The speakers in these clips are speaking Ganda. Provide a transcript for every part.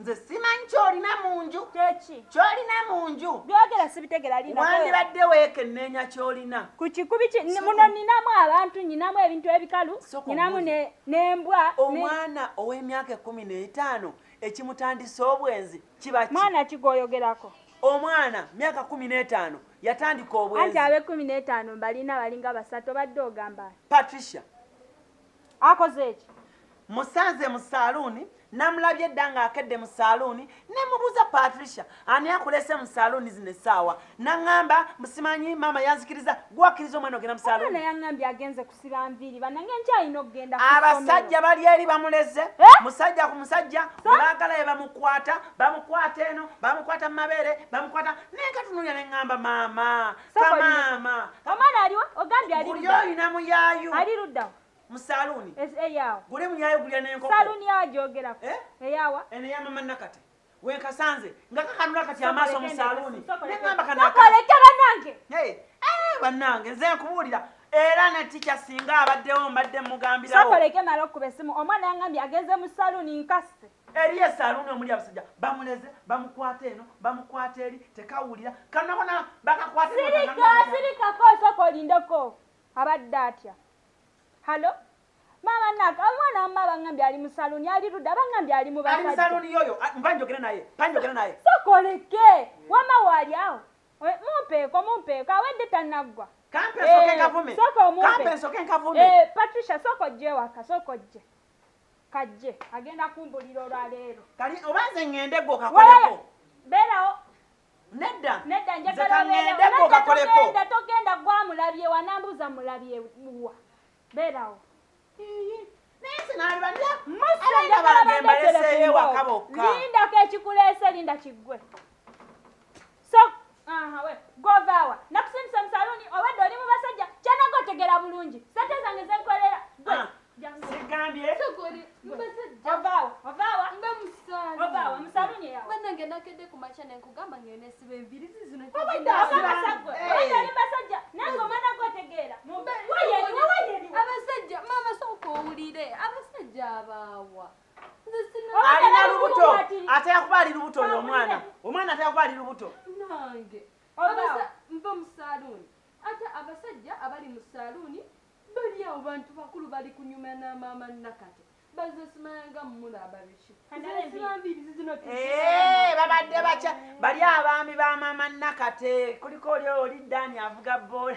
nze simanyi kyolina mu nju kyolina mu nju byogera sibitegera wandibadde weekenneenya kyolina ku kikubi muno ninamu abantu nyinamu ebintu ebikalu nyinamu n'embwa omwana ow'emyaka ekkumi n'etaano ekimutandisa obwenzi kiba mwana kigoyogerako omwana myaka kumi n'etaano yatandika obwenzi anti ab'ekkumi n'etaano mbalina balinga basatu obadde ogamba patricia akozeeki musanze mu saluuni namulabye dda ng'akedde mu saluuni ne mubuuza patricia ani akuleese mu saluuni zino essaawa naŋŋamba musimanyi maama yanzikiriza gwakkiriza omwana ogenda mu saluuni yaŋŋambye agenze kusiba nviiri banange nkyalina okugenda abasajja bali eri bamuleze eh? musajja ku musajja webaagala ye bamukwata bamukwata eno bamukwata mu mabeere bamukwata naye katunulya ne ŋŋamba maama kamaama omwana aliwa ogambye ali olina muyayu ali luddawa mu saluuni eyawa gule muyayu gulya nenkoko saluuni yawa gyogerako eh? eyawa eno yamama nakate wenkasanze nga kakanula kati amaaso mu saluuni nengamba kanakolekera nange eh, bannange nze nkubuulira era ne tikya singa abaddewo mbadde mugambirawo sokoleke mala okuba essimu omwana yangambye agenze mu saluuni nkasi eriyo esaaluuni omuli abasajja bamuleze bamukwata eno bamukwata eri tekawulira kanabona bakakwatesirikako osooka olindeko abadde atya halo maama naka omwana wamma abangambye ali mu saluuni ali ludde abangambye ali mu basaluuni yoyo mba njogere naye mba njogere naye sokoleke wamma waali awo eh, mumpeeko mumpeeko awedde tanaggwa kampe nsoke eh, nkavume kampe nsoke nkavume eh, patricia soka ojje ewaka soka ojje kajje agenda kumbulira olwa leero kali oba nze ŋŋende gwe okakoleko beerawo nedda nedda njagalaŋŋende gwe okakoleko nedda togenda gwamulabye wanambuuza mulabye wa beerawo naye nze naliba abaana bange mbaleseeyo ewaka bokka lindako ekikuleese linda kiggwe So, aha, we, govaawa. Nakusindise mu saluuni obadde oli mu basajja. Kyanaga otegera bulungi. Sente zange zenkolera. Gwe. Ah, Sigambye. Sokoli, mu basajja. Ovaawa, ovaawa. Mba mu saluuni. Ovaawa, mu saluuni eyawa. Banange nakedde ku makya ne nkugamba ng'eno esiba envirizi zino. Obadde abasajja gwe. Obadde oli basajja. Nange omwana gwe otegeera. Mumbe. Wayeri, wayeri. Abasajja, maama sooka owulire. Abasajja abaawa. alina lubuto ate yakuba ali lubuto oyo omwana omwana ate yakuba ali lubuto nange nva mu saluuni ate abasajja abali mu saluuni bali awo bantu bakulu bali kunyuma na maama nakati bazesimanga mumula ababiki eh, babadde bakya bali abaami ba maama nakate kuliko oli oli dani avuga bola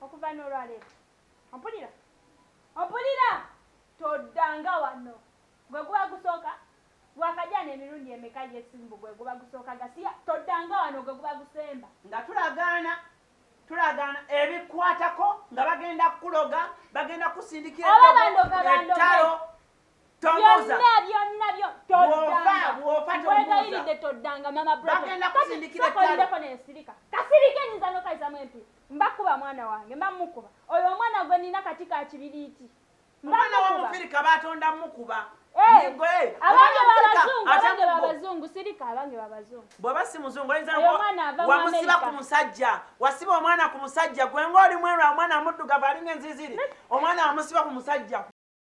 Okuva n'olwaleero, ompulira? Ompulira? Toddanga wano. Gwe guba gusooka? Waakajaana emirundi emeka ye si mbu gwe guba gusooka gasiya? Toddanga wano, gwe guba gusemba. Nga tulagaana, tulagaana ebikukwatako, nga bagenda kukuloga, bagenda kukusindikira eddogo, ettalo, byonnabyonnabyonkwegayiride toddanga mama brotokolideko nensirika kasirika enyinza nokayizamu empi mbakuba mwana wange mba mukuba oyo omwana gwe nina kati kakibiriiti mwana wamufirika batonda mukuba abange babazungu abange babazungu sirika abange babazungu bwaba si muzungu oyinzawamusiba ku musajja wasiba omwana ku musajja gwe ngaoli mwerwa omwana muddugavu alinga enziziri omwana wamusiba ku musajja